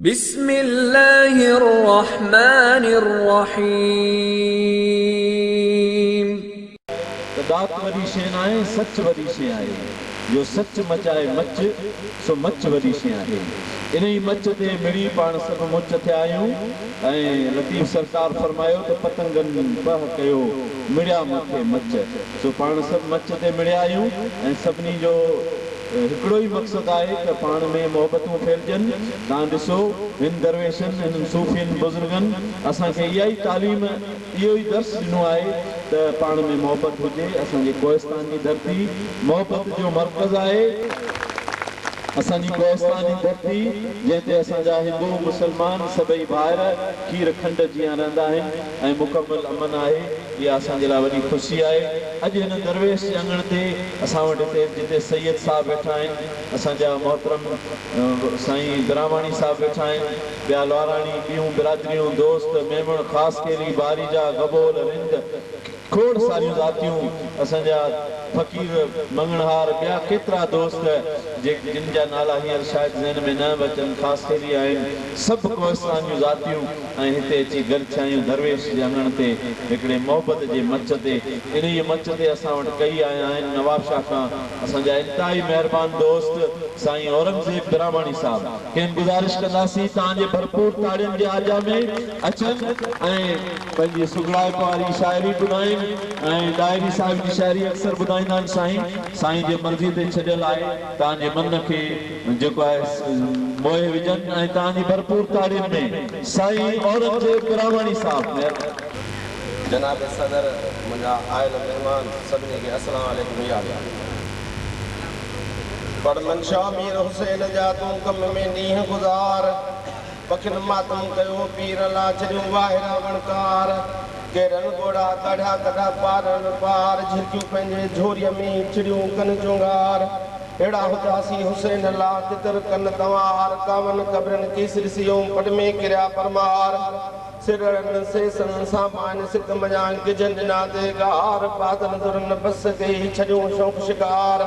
بسم الله الرحمٰن الرحيم. ته ڏات وڏي شيء ناهي سچ وڏي شيء آهي جو سچ مچائي مچ سو مچ وڏي شيء آهي انهي مچ تي مڙي پاڻ سڀ مچ ٿيا آهيون ۽ لطيف سرڪار فرمايو ته پتنگن پهه ڪيو مڙيا مٿي مچ سو پاڻ سڀ مچ تي مڙيا آهيون ۽ سڀني جو هڪڙو ئي مقصد آهي ته پاڻ ۾ محبتون ڦهلجن. تان ڏسو، هن درويشن، هنن صوفين بزرگن اسان کي اها ئي تعليم، اهو ئي درس ڏنو آهي ته پاڻ ۾ محبت هجي. اسان جي ڪوهستان جي ڌرتي محبت جو مرڪز آهي. اسان جي ڪوهستان جي ڌرتي، جنهن تي اسان جا هندو، مسلمان سڀئي ڀائر کير کنڊ جيان رهندا آهن. ۽ مڪمل امن آهي، اها اسان جي لاء وڏي خوشي آهي، اڄ هن درويش جي اڱڻ تي اسان وٽ هتي جتي سيد صاحب ويٺا آهن، اسان جا محترم سائين براهماڻي صاحب ويٺا آهن، ٻيا لواراڻي، ٻيون برادريون، دوست، ميمڻ، خاصخيلي، باريجا، گبول، رند، کوڙ ساريون ذاتيون، اسان جا فقير، مڱڻهار، ٻيا ڪيترا دوست، جن جا نالا هينئر شايد ذهن ۾ نه به اچن، خاص ڪيري آهن، سڀ ڪوهستان جون ذاتيون ۽ هتي اچي گڏ ٿيايون درويش جي اڱڻ تي، هڪڙي محبت جي مچ تي. انهيء مچ تي اسان وٽ ڪيئي آيا آهن، نوابشاهه کان اسان جا انتهائي مهربان دوست سائين اورنگزيب براهماڻي صاحب. کين گذارش ڪنداسين، تان جي ڀرپور تاڙين جي آجيا ۾، اچن ۽ پنهنجي سگهڙائپ واري شاعري ٻڌائين ۽ ڏاهري صاحب جي شاعري اڪثر ٻڌائيندا آهن سائين سائين جي مرضي تي ڇڏيل آهي توهان جي من کي جيڪو آهي موهي وجهن ۽ توهان جي ڀرپور تاڙين ۾ سائين اورنگزيب براهواڻي صاحب مهرباني. جناب صدر منهنجا آيل مهمان سڀني کي السلام عليڪم هي آ گيا پڙ منشا مير حسين جا تون ڪم ۾ ڏينهن گذار پکين ماتم ڪيو پير لا ڇڏيون واهيرا وڻڪار ڪي رن ڳوڙها ڪاڙهيا ڪڍا پار رن پار جهرڪيون پنهنجي جهوريء ۾ چڙيون ڪن چونگار اهڙا هونداسين حسين لا تتر ڪن تنوار ڪاون قبرن ڪيس ڏسي اوم پٽ ۾ ڪريا پرمار سرڙن سيسن سان ماين سڪ منجهان ڳجهن ڏنا تي ڳار بادل درن بس ڪئي ڇڏيون شوق شڪار.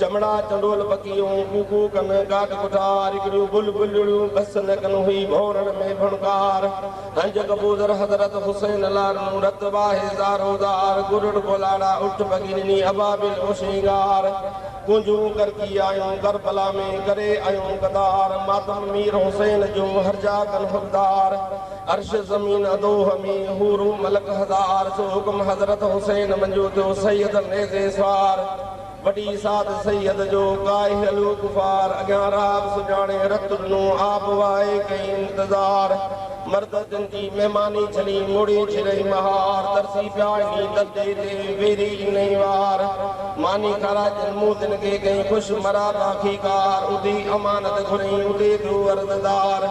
چمڙا چنڊول پکيون ڪو ڪو ڪن ڪاٺ ڪٺار هڪڙيون بل بلڙيون بس نه ڪن هئي ڀونرن ۾ ڀڻڪار هنج ڪبوتر حضرت حسين لارنون رت واهي زارو زار گرڙ ڪولاڙا اٺ پکي ڏني ابابيل او شينگار ڪونجون ڪرڪي آيون ڪربلا ۾ ڪري آيون قطار ماتم مير حسين جو هر جا ڪن حقدار عرش زمين ادوه ۾ حورون ملڪ هزار سو حڪم حضرت حسين منجو ٿيو سيد نيزي سوار. وڏي ساڌ سيد جو ڪاهي الوڪ فار اڳيان راب سڃاڻي رت ڏنو آب وائي ڪئي انتظار مرد تن جي مهماني جھلي موڙي جھرئي مهار ترسي پيا انهي دردي تي ويري انهي وار ماني کارائي تن مون تن کي ڪئي خوش مرا تان کي ڪار ادي امانت گھرئين ادي ٿيو عرضدار.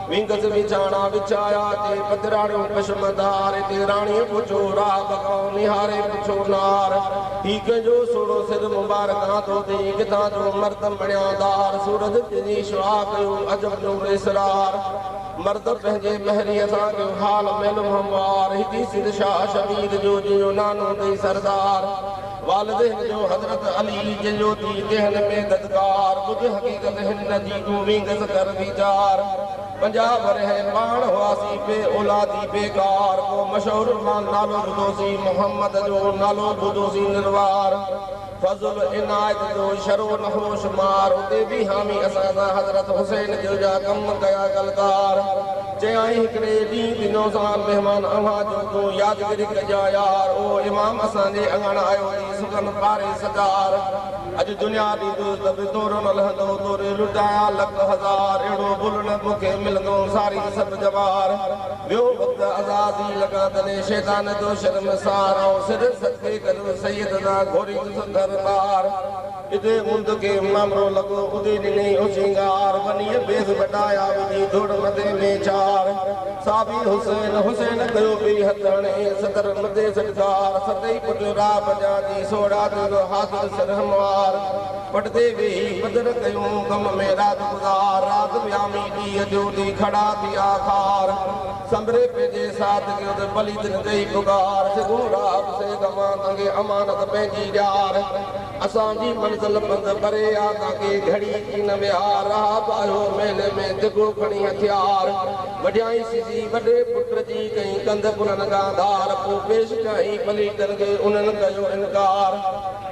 وينگس ويچاڻا ويچايا تي، پڌراڻيون پشم دار تي، راڻيء پڇو راهه بکائو، نهاري پڇو نار، هي ڪنهن جو سهڻو سر مبارڪ آندو اٿئي، ڪٿان جو مرد مڻيان دار، سورج تنهنجي شعاع ڪيو عجب نور اسرار، مرد پنهنجي مهريء سان ڪيو حال مئل هموار، هتي سنڌ شاهه شبير جو جنهن جو نانو اٿئي سردار. والدين جو حضرت علي جن جو دي دهن ۾ ددڪار ٻڌ حقيقت هن نه جي تون وينگس ڪر ويچار پنجاهه ورهيه پاڻ هئاسين بي اولادي بيڪار ڪو مشهور مان نالو ٻڌوسين محمد جو نالو ٻڌوسين نروار فضل عنايت جو شرو نهو شمار اتي بيهامي اسان سان حضرت حسين جو جا ڪم ڪيا گلڪار چيائين هڪڙي ڏينهن جي نوزائن مهمان اوهان جو تون يادگري ڪجان يار او امام اسان جي اڱڻ آيو ٿي سخن پاري سگار اڄ دنيا ڏيندس ته به تورو نه لهندو توري لٽايان لک هزار اهڙو بل نه تو کي ملندو ساري سڀ جوار ويو وقت عزازيل لڳان تڏهن شيطان جو شرمسار آئون سر صدقي گڏ سيد سان گهوريندس درٻار. ادي اوندھ کي مامرو لڳو، ادي ڏني او سينگار، ونيء بيس وڊايا، وجھي ڌوڙ مٿي ۾ چار، صابي حسين، حسين ڪيو ٻئي ھٿ ھڻي، صدر مدي سڏگار، ستئي پٽ راء بجا جي سوڙھا ٿيندو حاضر سر ھنوار، پٽدي ويھي پدر ڪيون، غم ۾ رات گذار، رات ويامي ڏينھن جو ڏي ڪھڙا ٿيا خار، سنبري پنھنجي ساٿ کي ادي پليتن ڪئي پڪار، سگھون راء به سي گھمان، دنگي امانت پنھنجي ڄار. اسان جي منزل پنڌ پري آ تان ڪي گهڙي ٿي نه ويا رهاب آيو مهلي ۾ دگهو کڻي هٿيار وڍيائين سيزي وڏي پٽ جي ڪئين ڪنڌ ڪنن کان ڌار پو پيش ڪيائين پليٽن کي انهن ڪيو انڪار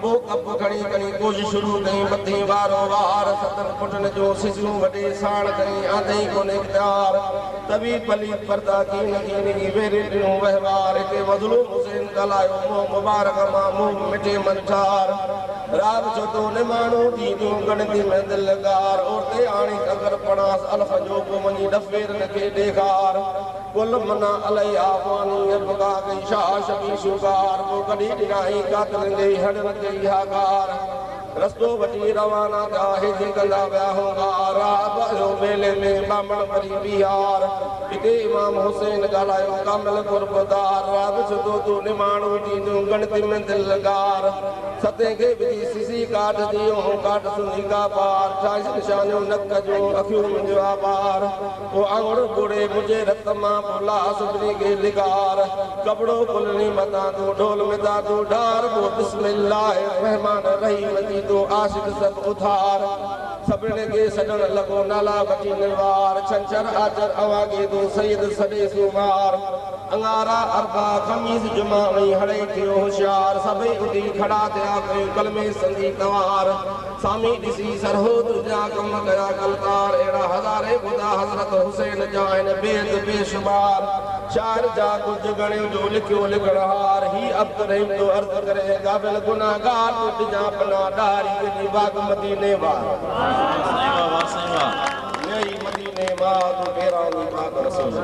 پو ڪپ کڻي کڻي ڪوش شروع ڪئين مٿين وارو وار ستن پٽن جون سيزيون وڍي ساڻ ڪئين آندئين ڪونه اختيار. طبيب پليت پرتا ڪين ڪين جي ويرين ڏنو وهنوار هتي مظلوم حسين ڳالهايو منهن مبارڪ مان منهن مٺي من ٺار راڳ ڇتو نماڻو ٿي ڏيو ڳڻتي ۾ دل ڳار عورتي آڻي ڪڪر پڙانس الف جو پو وڃي ڏڦيرن کي ڏيکار ڪل منا الهي آفاني ابڪا ڪئي شاهه شبي شوڪار پو ڪڍي ڏنائين قاتلن جي هڙن ڪئي هاڪار. رستو وٺي روانا ٿيا هجي ڪندا ويا هوندا رات اهو ميلي ۾ ٻامڻ وري بيهار هتي امام حسين ڳالهايو ڪامل قرب دار رات سڌو تون نماڻو ٿينديون ڳڻتي ۾ دل لڳار ستين کي وجهي سسي ڪاٺ جي اهو ڪاٺ سونهي ڪا پار ٺاهيس نشانيون نڪ جون اکيون منهنجيون آبار. او آڱر ٻوڙي منهنجي رت مان پو لاء سجڻي کي لغار ڪپڙو کلڻي متان تون ڍول متان تون ڍار پو بسم الله الرحمان الرحيم جي تون عاشق سڀ اڌار سڀني کي سڏڻ لڳو نالا وٺي نروار ڇنڇر آچر اوهان کي تون سيد سڏي سومار اڱارا اربع خميس جمعا ۽ هڙئي ٿيو هوشيار سڀئي اٿي کڙا ٿيا ڪيو ڪلمي سندي توهار سامي ڏسي سرهو تنهنجا ڪم ڪيا ڪلڪار اهڙا هزارين ٻڌا حضرت حسين جا آهن بيت بي شمار شاعر جا ڪجهه ڳڻيو جو لکيو لکڻهار هي عبدالرحيم ٿو عرض ڪري اي غافل گنهگار تون ڏجان پناهه ڏهاري تنهنجي واڳ مديني وار ويئي مديني مان تون پيراندي پاڪ رسول جي.